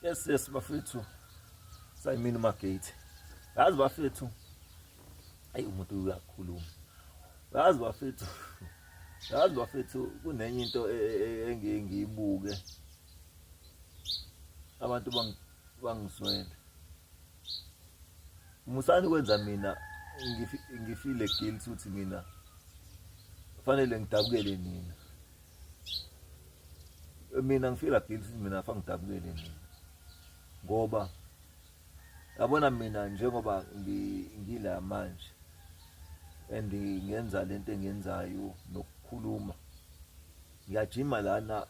yes yes bafethu sayimini magate yazi bafethu ayi umuntu uyakhuluma yazi bafethu yazi bafethu kunenye into e, e, e, engiye ngiyibuke abantu bangizwele musani kwenza mina ngifile guilty ukuthi mina fanele ngidabukele nina mina ngifila guilty mina fangidabukele mina ngoba yabona mina njengoba ngila manje and ngenza lento engenzayo nokukhuluma ngiyajima lana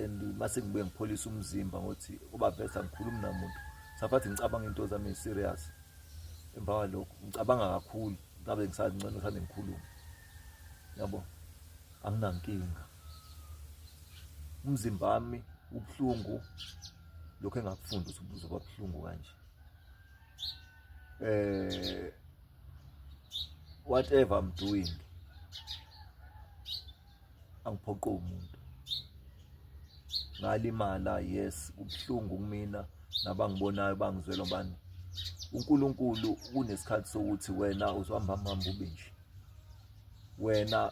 and mase ngibuye ngipholisa umzimba ngothi kuba bese angikhulumi namuntu safathi ngicabanga into zami serious emva kwalokho ngicabanga kakhulu ngabe ngisangcono sane ngikhuluma yabo anginankinga umzimba wami ubuhlungu lokho engakufunda ukuthi ubuzo babuhlungu kanje eh whatever i'm doing angiphoqo umuntu ngalimala yes ubuhlungu kumina nabangibonayo bangizwela bani uNkulunkulu kunesikhathi sokuthi wena uzohamba hamba ube nje wena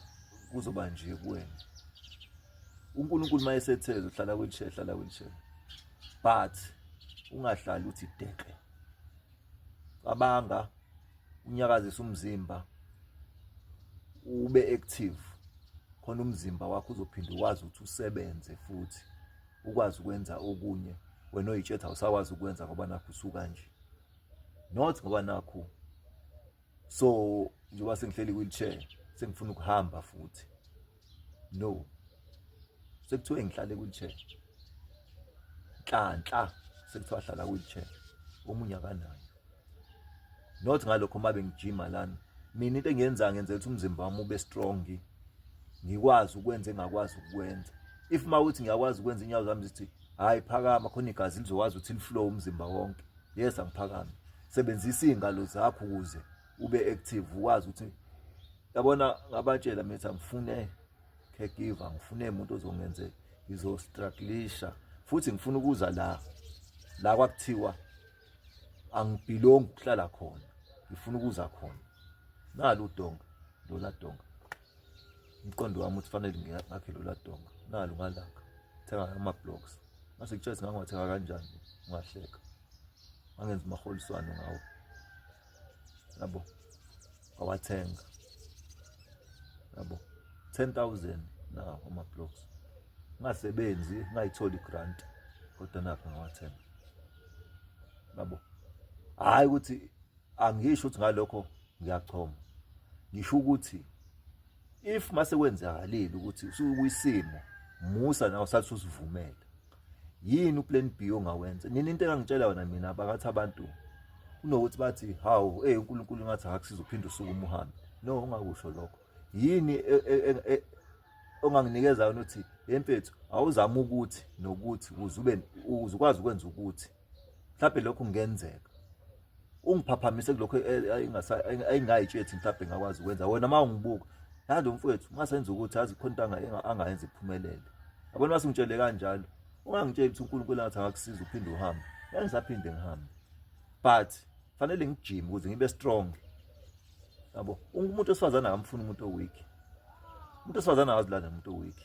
kuzoba nje kuwena uNkulunkulu mayesetheza uhlala kwenhle hlala kwenhle but ungahlali uthi deke cabanga unyakazisa umzimba ube active khona umzimba wakho uzophinde ukwazi ukuthi usebenze futhi ukwazi ukwenza okunye wena oyitshetha usakwazi ukwenza ngoba nakho usuka nje not ngoba nakho so njengoba sengihleli wheelchair sengifuna ukuhamba futhi no sekuthiwe ngihlale wheelchair nhlanhla sekuthiwa hlala wheelchair omunye akanayo not ngalokho uma bengijima lana mina into engiyenza ngenza ukuthi umzimba wami ube strong ngikwazi ukwenza engakwazi ukwenza if uma ukuthi ngiyakwazi ukwenza inyawo zami zithi hhayi phakama khona igazi lizokwazi ukuthi liflow umzimba wonke yes angiphakami sebenzisa iy'ngalo zakho ukuze ube active ukwazi ukuthi yabona ngabatshela mithi angifune caregiver ngifune umuntu ozongenze ngizostrugglisha futhi ngifuna ukuza la la kwakuthiwa angibhilongi ukuhlala khona ngifuna ukuza khona nalo udonga lola donga umqondo wami uthi fanele ngakhe lola donga nalo ngalanga thenga ama blocks mase kuthiwa singangathenga kanjani ungahleka angenza umaholiswano ngawo yabo awathenga yabo 10000 na ama blocks ngasebenzi ngayithola igrant kodwa napha ngawathenga yabo hayi ukuthi angisho ukuthi ngalokho ngiyachoma ngisho ukuthi if mase kwenzakalile ukuthi usukwisimo musa nawe sathi usivumele yini uplan B ongawenza nini into engangitshela yona mina bakathi abantu kunokuthi bathi hawu hey uNkulunkulu ngathi akakusiza uphinde usuku umuhambe no ungakusho lokho yini e, e, e, onganginikeza yona uthi yempethu awuzama ukuthi nokuthi uze ube uzukwazi ukwenza ukuthi mhlawumbe lokhu kungenzeka ungiphaphamise kulokho ayingayitshethi mhlawumbe ngakwazi ukwenza wena uma ungibuka nalo mfowethu uma senza ukuthi azi khona into angayenza iphumelele yabona uma singitshele kanjalo ungangitsheli ukuthi unkulunkulu angathi angakusiza uphinde uhambe ngisaphinde ngihambe but fanele ngijime ukuze ngibe strong yabo umuntu osifazana akamfuni umuntu oweak umuntu osifazana akazilanda umuntu oweak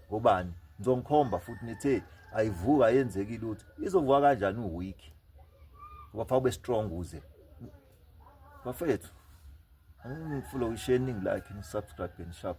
ngobani ngizongikhomba futhi nithe ayivuka ayenzeki lutho izovuka kanjani uweak ngoba fa ube strong uze bafethu angifuna ukuyishare iningi like nisubscribe and share